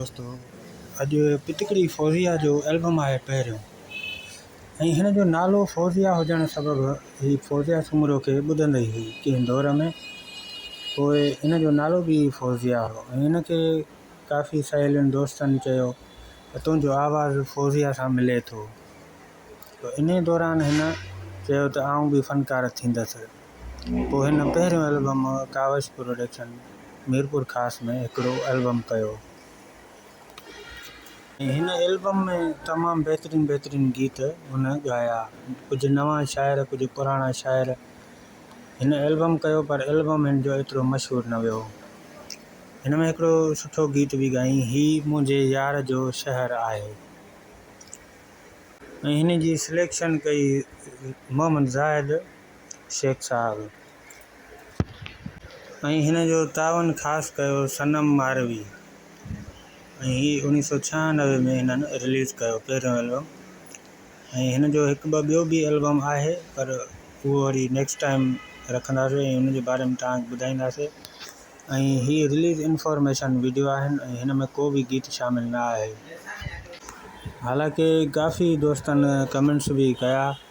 دوستو اڄ پتڪڙي فوزيه جو البم آهي پهريون ۽ هن جو نالو فوزيه هجڻ سبب هي فوزيه سومرو کي ٻڌندي هئي ڪنهن دور ۾ پوء هن جو نالو به فوزيه هو ۽ هن کي ڪافي سهيلين دوستن چيو ته تنهنجو آواز فوزيه سان ملي ٿو انهي دوران هن چيو ته آئون به فنڪار ٿيندس پوء هن پهريون البم ڪاوش پروڊڪشن ميرپور خاص ۾ هڪڙو البم ڪيو. هن البم ۾ تمام بهترين بهترين گيت هن ڳايا. ڪجهه نوان شاعر ڪجهه پراڻا شاعر هن البم ڪيو پر البم هن جو ايترو مشهور نه ويو. هن ۾ هڪڙو سٺو گيت به ڳايائين هي منهنجي يار جو شهر آهي ۽ هن جي سليڪشن ڪئي محمد زاهد. شيخ صاحب ۽ هن جو تعاون خاص ڪيو صنم ماروي ۽ هي اوڻيھ سؤ ڇهانوي ۾ هنن رليز ڪيو پهريون البم ۽ هن جو هڪ ٻه ٻيو به البم آهي پر اهو وري نيڪسٽ ٽائيم رکنداسي ۽ ان جي باري ۾ توهان کي ٻڌائينداسي ۽ هي رليز انفارميشن وڊيو آهن ۽ هن ۾ ڪو به گيت شامل نه آهي حالانڪه ڪافي دوستن ڪمينٽس به ڪيا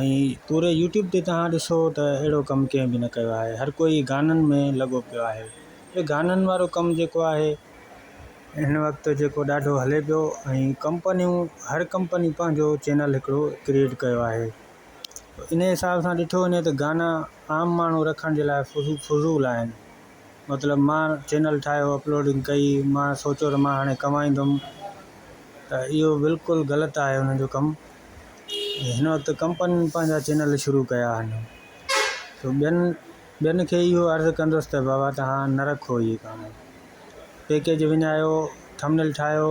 ۽ پوري يوٽيوب تي تهان ڏسو ته اهڙو ڪم ڪنهن به نه ڪيو آهي هر ڪوئي گانن ۾ لڳو پيو آهي هي گانن وارو ڪم جيڪو آهي هن وقت جيڪو ڏاڍو هلي پيو ۽ ڪمپنيون هر ڪمپني پنهنجو چينل هڪڙو ڪريئيٽ ڪيو آهي انهي حساب سان ڏٺو وڃي ته گانا عام ماڻهو رکڻ جي لاء فضول فضول آهن مطلب مان چينل ٺاهيو اپلوڊنگ ڪئي مان سوچيو ته مان هاڻي ڪمائيندم ته اهو بلڪل غلط آهي انهن جو ڪم هن وقت ڪمپنين پنهنجا چينل شروع ڪيا آهن تو ٻين ٻين کي اهو عرض ڪندس ته بابا تهان نه رکو اهي ڪم پيڪيج وڃايو ٿمنيل ٺاهيو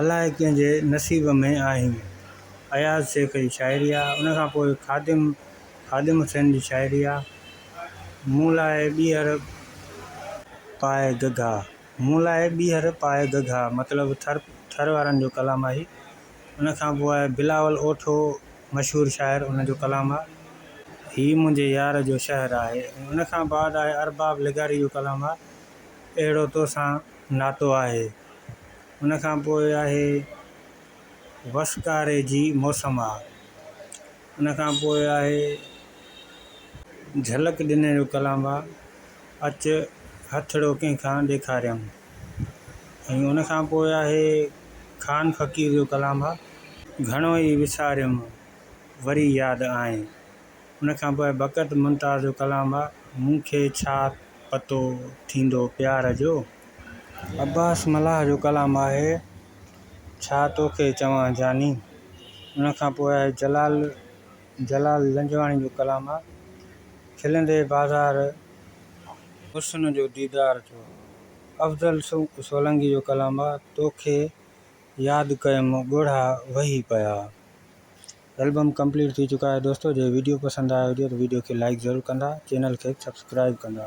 الاء ڪنهن جي نصيب ۾ آهين. اياز شيخ جي شاعري آهي ان کان پوء خادم خادم حسين جي شاعري آهي مون لاء ٻيهر پاء گگها مون لاء ٻيهر پاء گگها مطلب ٿر ٿر وارن جو ڪلام آهي ان کان پوء بلاول اوٺو مشهور شاعر ان جو ڪلام آهي هي منهنجي يار جو شهر آهي ان کان بعد آهي ارباب لغاري جو ڪلام آهي اهڙو توسان ناتو آهي. ان کان پوء آهي وسڪاري جي موسم آ. ان کان پوء آهي جهلڪ ڏني جو ڪلام آ، اچ هٿڙو ڪنهن کان ڏيکاريم. ۽ ان کان پوء آهي خان فقير جو ڪلام آ، گهڻو ئي وساريم وري ياد آئين. ان کان پوء بقت ممتاز جو ڪلام آ مون کي ڇا پتو ٿيندو پيار جو. عباس ملاح جو ڪلام آهي ڇا توکي چوان جاني. ان کان پوء جلال جلال لنجواڻي جو ڪلام آ کلندي بازار حسن جو ديدار جو. افضل سولنگي جو ڪلام آ توکي ياد ڪيم ڳوڙها وهي پيا. البم ڪمپليٽ ٿي چڪا آهي دوستو جي ويڊيو پسند آيو هجي ته ويڊيو کي لائڪ ضرور ڪندا چينل کي سبسڪرائب ڪندا.